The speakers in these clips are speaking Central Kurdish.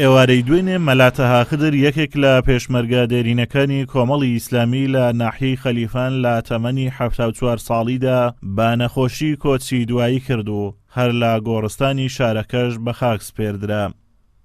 ئێوارەی دوێنێ مەلا تەها خدر یەکێک لە پێشمەرگە دێرینەکانی کۆمەڵی ئیسلامی لە ناحیەی خەلیفان لە تەمەنی حەفتا و چوار ساڵیدا بە نەخۆشی کۆچی دوایی کرد و هەر لە گۆڕستانی شارەکەش بەخاک سپێردرا.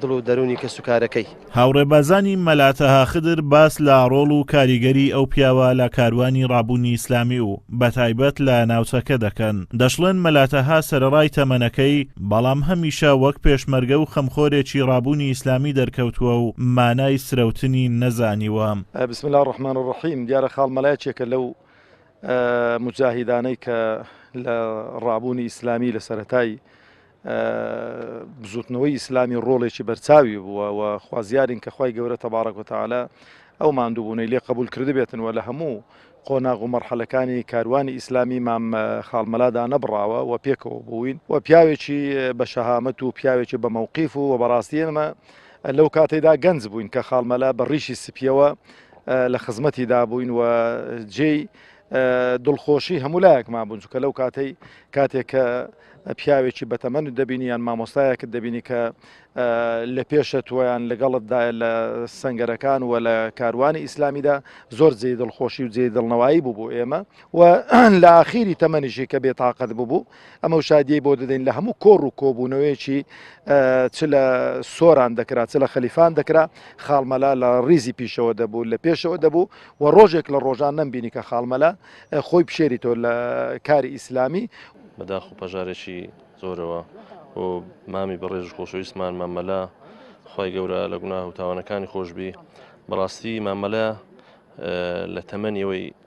دڵ و دەروونی کەسوکارەکەی. هاوڕێ بازانی مەلا تەها خدر باس لە ڕۆڵ و کاریگەری ئەو پیاوە لە کاروانی ڕابوونی ئیسلامی و بە تایبەت لە ناوچەکە دەکەن، دەشڵێن مەلا تەها سەرەڕای تەمەنەکەی بەڵام هەمیشە وەک پێشمەرگە و خەمخۆرێکی ڕابوونی ئیسلامی دەرکەوتووە و مانای سرەوتنی نەزانیوە. بسم اللە الرحمن الرحیم دیارە خاڵ مەلا یەکێکە لەو موجاهیدانەی کە لە ڕابوونی ئیسلامی لە سەرەتای بزوتنەوەی ئیسلامی ڕۆڵێکی بەرچاوی بووە و خوازیارین کە خی گەورە تەبارەک وتەعاالە ئەو مادووبوونەی لێ قبول کردبێتن و لە هەموو قۆناغ و مەرحەلەکانی کاروانی ئیسلامی مام خاڵمەلادا نەبڕاوە و پێکەوە بووین و پیاوێکی بە شەهامەت و پیاوێکی بە مەوقیف و و بەڕاستی ئێمە لەو کاتێدا گەنج بووین کە خاڵمەلا بە ڕیشی سپیەوە لە خزمەتی دابووین و جێی دڵخۆشی هەموو لایەکمان بوون چکە لەو کاتەی کاتێک کە پیاوێکی بەتەمەن دەبینی یان مامۆستایەکت دەبینی کە لە پێشە تویان لەگەڵتدا لە سنگەرەکان و لە کاروانی ئیسلامیدا زۆر جێ دڵخۆشی و جێ دڵنەوایی بوو بۆ ئێمە و لە ئاخیری تەمەنیشی کە بێتاقەت ببوو ئەمەو شادیەی بۆ دەدەین لە هەموو کۆڕ و کۆبوونەوەیەکی چ لە سۆران دەکرا چ لە خەلیفان دەکرا خاڵمەلا لە ڕیزی پیشەوە دەبوو لە پێشەوە دەبوو و ڕۆژێک لە ڕۆژان نەمبینی کە خاڵمەلا خۆی پشێری تۆ لە کاری ئیسلامی بەداخ و پەژارێکی زۆرەوە و مامی بەڕێژ خۆشەویستمان مامەلا خی گەورە لە گوناه و تاوانەکانی خۆشببی بەڕاستی مامەلا لە تەمەنیەوەی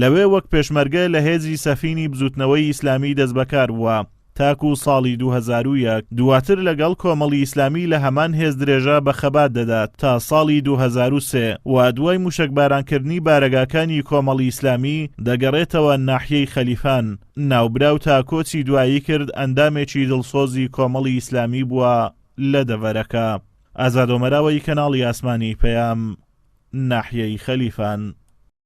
لەوێ وەک پێشمەرگە لە هێزی سەفینی بزووتنەوەی ئیسلامی دەستبەکار بووە تاکوو ساڵی دوو هەزار و یەک، دوواتر لەگەڵ کۆمەڵی ئیسلامی لە هەمان هێز درێژە بە خەبات دەدات تا ساڵی دوو هەزار و سێ و دوای مووشەکبارانکردنی بارەگاکانی کۆمەڵی ئیسلامی دەگەڕێتەوە ناحیەی خەلیفان. ناوبراو تا کۆچی دوایی کرد ئەندامێکی دڵسۆزی کۆمەڵی ئیسلامی بووە لە دەڤەرەکە. ئازادۆمەراوەی کەناڵی ئاسمانی پەیام، ناحیەی خەلیفان.